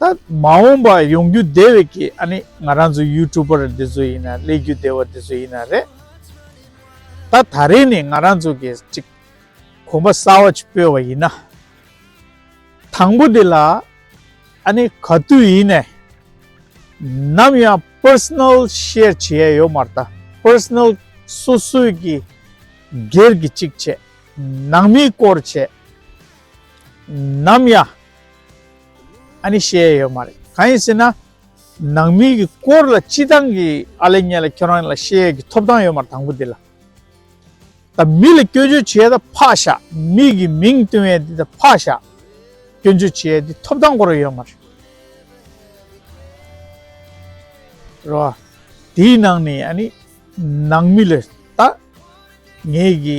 ད་མ་འོངས་པ་ཡོང་རྒྱུ་བདེ་བའི་གི་ཨ་ནི་ང་རང་ཚོ་ཡུལ་གྲུ་པར་འདི་ཚོ་ཡིན་ན་སླེ་རྒྱུ་བདེ་བ་འདི་ཚོ་ཡིན་ན་རེད། ད་ད་རེས་ནི་ང་རང་ཚོ་གི་ཅིག་གོམ་པ་གསར་བ་ཅིག་སྤོས་བ་ཡིན་ན། དང་པོ་དེ་ལ་ཨ་ནི་ག་དུས་ཡིན་ནས་ནམ་ཡང Personal Share བྱེད་ཡས་ཡོད་མ་རྟ Personal སོ་སོའི་གི་སྒེར་གི་ཅིག་བྱེད་ནང་མིའི་སྐོར་བྱེད། ནམ་ཡང་ཨ་ནི་བཤད་ཡས་ཡོད་མ་རེད་གང་ཡིན་ཟེར་ན། ནང་མི་གི་སྐོར་ལ་སྤྱི་བཏང་གི་ཨ་ལེ་ཉེ་ལ་ཁྱོད་རང་ལ་བཤད་ཡས་ཀི་ཐོབ་ཐང་ཡོད་མ་རེད་དང་པོ་དེ་ལ། ད་མི་ལ་སྐྱོན་བརྗོད་བྱེད་ཡས་ད་ཕག་བཞག་མི་གི་མིང་བཏོན་ཡས་དེ་ད་ཕག་བཞག་སྐྱོན་བརྗོད་བྱེད་ཡས་དེ་ཐོབ་ཐང་སྐོར་ལ་ཡོད་མ་རེད། རེད་བ། དེའི་ནང་ནས་ཨ་ནི་ནང་མི་ལ་ད་ངས་གི།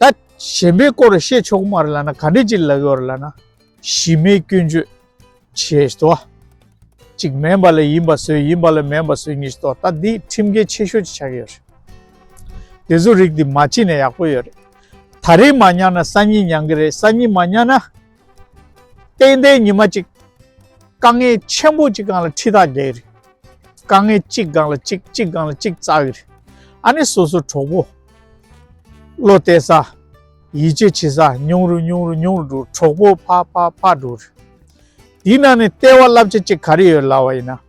ད་གཞན་པའི་སྐོར་བཤད་ཆོག་མ་རེད་ལ་ན་ག་འདྲས་ཅིག་ལབ་ཡོད་རེད་ལ་ན། གཞི་མེད་སྐྱོན་བརྗོད་བྱེད་བཞིན་དོ། ཅིག་མེན་པ་ལ་ཡིན་པ་བཟོས་ཡིན་པ་ལ་མེན་པ་བཟོས་ཉིས་བཟོས་དོ་ད་འདི་ཁྲིམས་འགལ་ཆེ་ཤོས་ཅིག་ཆགས་ཀྱི་ཡོད་རེད། དེ་བཟོ་རིགས་འདི་མ་བྱས་ནས་ཡག་པོ་ཡོད་རེད། ད་རེས་མ་ཉར་ན་སང་ཉིན་ཉང་གི་རེད་སང་ཉིན་མ་ཉར་ན། གཏན་བདེའི་ཉི་མ་གཅིག། དཀའ་ངལ་ཆེན་པོ་གཅིག་གང་ལ་ཁྲི་དང་བརྒྱད་རེད། དཀའ་ངལ་གཅིག་གང་ལ་གཅིག་གཅིག་གང་ལ་གཅིག་རྩ་བའི་རེད། ཨ་ནི་སོ་སོའི་གྲོགས་པོ། བློ་གཏད་ས། ཡིད་ཆེས་བྱེད་ས་ཉུང་རུ་ཉུང་རུ་ཉུང་རུ་འགྲོ་གྲོགས་པོ་འཕགས་འཕགས་འཕགས་འགྲོ་རེད། དེའི་ནང་ནས་ལྟེ་བ་བསླབ་བྱ་གཅིག་ག་རེ་ཡོད་ལབ་བ་ཡིན་ན།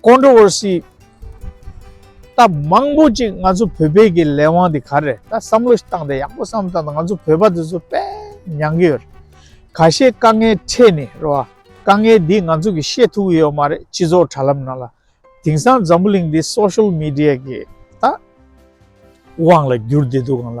Controversy ད་མང་པོ་ཅིག་ང་ཚོ་བོད་པའི་གི་ལས་དབང་དེ་ག་རེད་ད་བསམ་བློ་ཞིག་བཏང་སྟེ་ཡག་པོ་བསམ་བཏང་སྟེ་ང་ཚོ་བོད་པ་དེ་ཚོ་དཔེ་མྱང་གི་ཡོད་རེད་ག་ཤེད་དཀའ་ངལ་འཕྲད་ནས་རེད་བ་དཀའ་ངལ་འདི་ང་ཚོ་གི་ཤེད་ཐུག་གི་ཡོད་མ་རེད་སྤྱི་ཚོགས་དྲ་ལམ་ནང་ལ་དེང་སང་འཛམ་བུ་གླིང་འདི Social Media གི་ད་དབང་ལ་བསྒྱུར་བསྡད་འདུག་གང་ལ།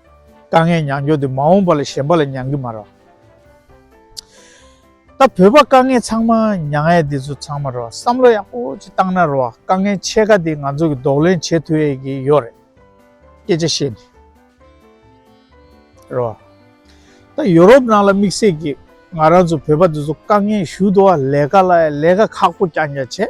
དཀའ་ངལ་མྱངས་མྱོང་དུས་མ་འོངས་པ་ལ་གཞན་པ་ལ་མྱངས་ཀྱི་མ་རོགས། ད་བོད་པ་དཀའ་ངལ་ཚང་མ་མྱངས་ཡས་འདི་ཚོ་ཚང་མ་རོགས་བསམ་བློ་ཡག་པོ་ཅིག་བཏང་ན་རོགས་དཀའ་ངལ་ཕྱེད་ཀ་འདི་ང་ཚོ་གི་རྡོག་ལན་བྱེད་ཐུ་ཡས་ཀྱི་ཡོད་རེད་སྐད་ཆ་བཤད་ནི་རོགས། ད་ཡོ་རོབ་ནང་ལ་དམིགས་བསལ་གྱི་ང་རང་ཚོ་བོད་པ་འདི་ཚོ་དཀའ་ངལ་ཞུ་དུ་བ་ལས་ཀ་ལ་ཡང་ལས་ཀ་ཁག་པོ་ཀྱང་ཀྱང་བྱས།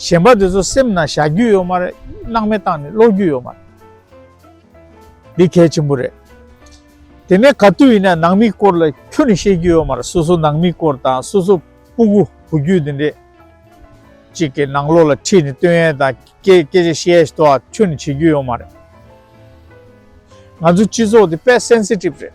གཞན་པ་དེ་ཚོ་སེམས་ནང་བཞག་རྒྱུ་ཡོད་མ་རེད་སྣང་མེད་བཏང་ནས་ཀློག་རྒྱུ་ཡོད་མ་རེད་འདི་གལ་ཆེན་པོ་རེད་དེ་ནས་ག་དུས་ཡིན་ན་ནང་མི་སྐོར་ལ་ཁྱོད་ནས་བཤད་རྒྱུ་ཡོད་མ་རེད་སོ་སོ་ནང་མི་སྐོར་དང་སོ་སོ་སྤུ་གུ་བུ་རྒྱུད་དེ་འདྲས་གཅིག་གི་ནང་ལོག་ལ་ཁྲིད་ནས་སྟོན་ཡས་དང་སྐད་སྐད་ཆ་བཤད་ཡས་དོ་ཁྱོད་ནས་བྱེད་རྒྱུ་ཡོད་མ་རེད་ང་ཚོ་སྤྱི་ཚོགས་དེ་དཔེ་སེན་སི་ཏིབ་རེད།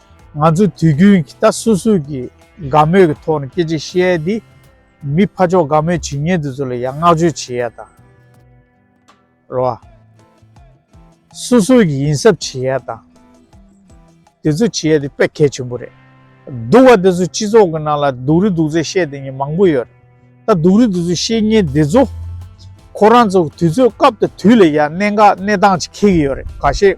ང་ཚོས་དུས་རྒྱུན་གྱི་ད་སུ་སུ་གི་དགའ་མོས་ཀྱི་ཐོག་ནས་སྐད་ཅིག་བཤད་ཡས་འདི། མི་ཕ་ཅོག་དགའ་མོས་བྱེད་ཉེན་དེ་ཚོ་ལ་ཡང་བསྔགས་བརྗོད་བྱེད་ཡས་དང། རོ་ཨ། སུ་སུ་གི་ཡིན་ཟབ་བྱེད་ཡས་དང། དེ་ཚོ་བྱེད་ཡས་འདི་དཔེ་གལ་ཆེན་པོ་རེད། སྡུག་བ་དེ་ཚོ་སྤྱི་ཚོགས་ཀྱི་ནང་ལ་སྡུག་རི་སྡུག་ཚད་བཤད་དེ་ཉིན་མང་པོ་ཡོད་རེད། ད་སྡུག་རི་དེ་ཚོ་བཤད་ཉེན་དེ་ཚོ། ཁོ་རང་ཚོ་དུས་ཚོད་སྐབས་དང་དུས་ལ་ཡང་གནད་འགག་གནས་སྟངས་ཅིག་འཁེལ་གྱི་ཡོད་རེད་ག་ཤེད།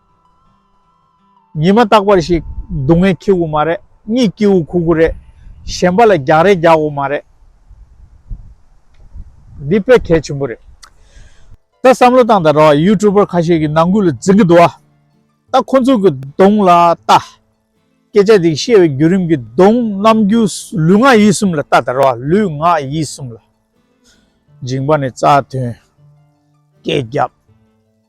ཉི་མ་རྟག་པར་ཞིག་སྡུག་བསྔལ་ཁྱི་འུ་མ་རེད་གཉིད་སྐྱིད་འུ་ཁུག་འུ་རེད་གཞན་པ་ལ་རྒྱག་རེས་རྒྱག་འུ་མ་རེད། འདི་དཔེ་གལ་ཆེན་པོ་རེད། ད་བསམ་བློ་བཏང་ད་ར་བ YouTuber ཁ་ཤས་ཀྱི་ནང་ཁུལ་ལ་འཛིན་གྱི་འདུག་ཨ། ད་ཁོ་ཚོ་གྱི་གདོང་ལ་ལྟ། སྐད་ཆ་འདི་བཤད་བའི་བརྒྱུད་རིམ་གྱི་གདོང་རྣམ་རྒྱུ་ལུས་ངག་ཡིད་གསུམ་ལ་ལྟ་ད་ར་བ་ལུས་ངག་ཡིད་གསུམ་ལ། འཇིང་པ་ནས་རྩ་དོན། སྐད་རྒྱབ།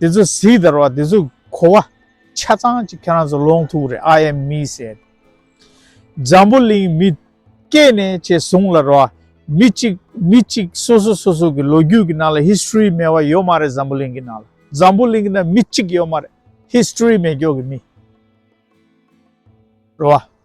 དེ་ཚོ་གཟིགས་དར་བ་དེ་ཚོ་གོ་བ་ཆ་ཚང་ཅིག་ཁྱེད་རང་ཚོ་ལོང་ཐུག་རེད་ཨ་ཡེམ་མི་སེར། འཛམ་བུ་གླིང་མི་སྐད་ནས་ཆེ་བཟུང་ལ་རོ། མི་གཅིག་མི་གཅིག་སོ་སོ་སོ་སོ་གི་ལོ་རྒྱུས་ཀྱི་ནང་ལ history མེད་བ་ཡོད་མ་རེད་འཛམ་བུ་གླིང་གི་ནང་ལ་འཛམ་བུ་གླིང་གི་ནང་མི་གཅིག་ཡོད་མ་རེད history མེད་མགྱོགས་ཀྱི་མི་རོ།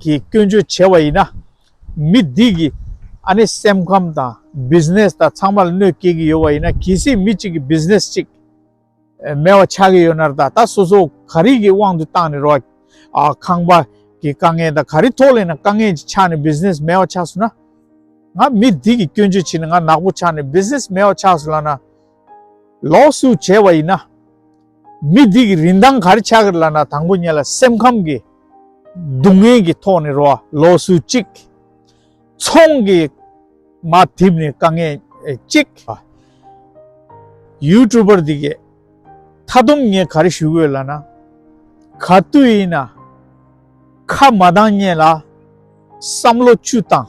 གི་སྐྱོན་བརྗོད་བྱས་བ་ཡིན་ན། མི་འདི་གི་ཨ་ནེ་སེམས་ཁམས་དང Business དང་ཚང་མ་ལ་གནོད་སྐྱེལ་གི་ཡོད་བ་ཡིན་ན་གལ་སྲིད་མི་གཅིག་གི Business གཅིག་མེད་བ་ཆགས་གི་ཡོད་ན་ད་ལྟ་སོ་སོ་ག་རིགས་ཀྱི་དབང་དུ་བཏང་ནས་རོགས་ཁང་པ་གི་དཀའ་ངལ་དང་ག་རིགས་ཐོག་ལེན་ན་དཀའ་ངལ་གྱི་ཆགས་ནས Business མེད་བ་ཆགས་སོང་ན། ང་མི་འདི་གི་སྐྱོན་བརྗོད་བྱེད་ནས་ང་ནག་པོ་ཆགས་ནས Business མེད་བ་ཆགས་སོང་ལ་ན། ལོགས་སུ་བྱས་བ་ཡིན་ན། མི་དེ་གི་རིན་ཐང་གར་ཆག་གི་ལ་ན་དང་པོ་ཉེ་ལ་སེམས་ཁམས་ཀྱི་སྡུག་བསྔལ་གྱི་ཐོག་ནས་རོ་ལོགས་སུ་གཅིག། ཚོང་གི་མ་བསྡིབས་ནས་དཀའ་ངལ་གཅིག། ཡུལ་གྲུ་པར་དེ་གི་མཐའ་སྡོམ་ངས་གར་ཞུ་དགོས་ལ་ན། ག་དུས་ཡིན་ན། ཁ་མ་གདངས་ཉེ་ལ་བསམ་བློ་བཅུ་བཏང།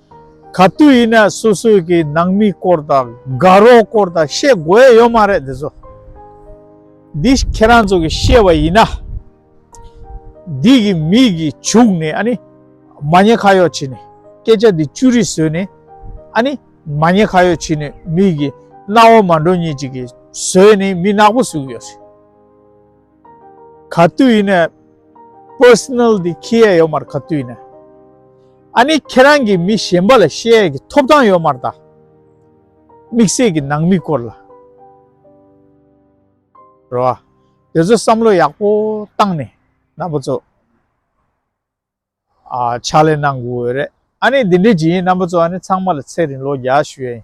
ག་དུས་ཡིན་ན་སུ་སུ་གི་ནང་མི་སྐོར་དང་དགའ་རོགས་སྐོར་དང་བཤད་དགོས་ཡ་ཡོད་མ་རེད་དེ་ཚོ། འདི་ཁྱེད་རང་ཚོ་གི་བཤད་པ་ཡིན་ན། འདི་གི་མི་གི་བྱུག་ནས་ཨ་ནི་མ་ཉེས་ཁ་ཡོག་བྱེད་ནས་སྐད་ཆ་འདི་བཅུ་རིགས་བཟོས་ནས་ཨ་ནི་མ་ཉེས་ཁ་ཡོག་བྱེད་ནས་མི་གི་རྣ་བ་མ་འགྲོ་ཉེས་ཅིག་གི་བཟོས་ནས་མི་ནག་པོ་བཟོས་ཡོད། ག་དུས་ཡིན་ནས Personal དེ་ཁྱི་ཡས་ཡོད་མར་ག་དུས་ཡིན་ནས་ཨ་ནི་ཁྱེད་རང་གིས་མི་གཞན་པ་ལ་བཤད་ཡས་ཀྱི་ཐོབ་ཐང་ཡོད་མར་ད་དམིགས་བསལ་གྱི་ནང་མི་སྐོར་ལ་རོ་ཨ་དེ་ཚོ་བསམ་བློ་ཡག་པོ་བཏང་ནས་ན་པ་ཚོ་ཕྱག་ལས་གནང་དགོས་རེད་ཨ་ནི་དེ་འདྲས་ཀྱི་ཡིན་ན་པ་ཚོ་ཨ་ནི་ཚང་མ་ལ་ཚེ་རིང་ལོ་བརྒྱ་ཞུ་ཡས་ཡིན།